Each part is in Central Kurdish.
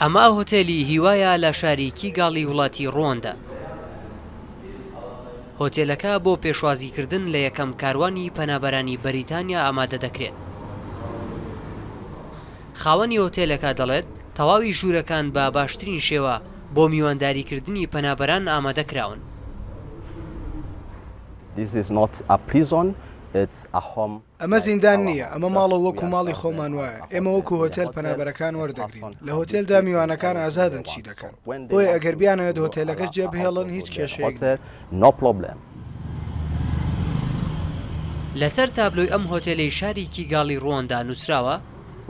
ئەمە هۆتێلی هیوایە لە شاری کیگالی وڵاتی ڕواندا. هۆتێلەکە بۆ پێشوازیکردن لە یەکەم کاروانی پەنابەرانی بەریتانیا ئامادە دەکرێت. خاوەنی هۆتێلەکە دەڵێت، تەواوی ژوورەکان بە باشترین شێوە بۆ میوانداریکردنی پەنابەران ئامادە کراون. ئەمە زیندان نییە، ئەمە ماڵە و وەکو ماڵی خۆمان وایە، ئێمە وەکو هۆتێل پەنابەرەکان وەردەگرین، لە هۆتێلدا میوانەکان ئازادن چی دەکەن، بۆیە ئەگەر بیانەوێت هۆتێلەکەش جێبهێڵن هیچ کێشەیەک نییە. لەسەر تابلۆی ئەم هۆتێلەی شاری کیگالی رواندا نووسراوە،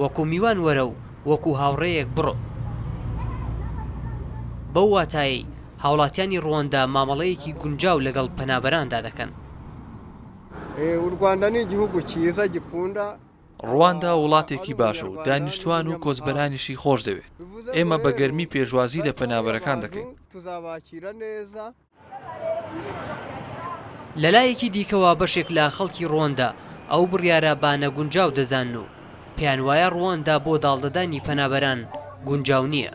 وەکو میوان وەرە و وەکو هاوڕێیەک بڕۆ. بەو واتایەی هاوڵاتیانی رواندا مامەڵەیەکی گونجاو لەگەڵ پەنابەراندا دەکەن. ڕواندا وڵاتێکی باشە و دانیشتوان و کۆچبەرانیشی خۆشدەوێت. ئێمە بە گەرمی پێشوازی لە پەنابەرەکان دەکەین. لەلایەکی دیکەوە بەشێک لە خەڵکی ڕواندا ئەو بڕیارە بە نەگونجاو دەزانن و پێیانوایە ڕواندا بۆ داڵدەدانی پەنابەران گونجاو نییە.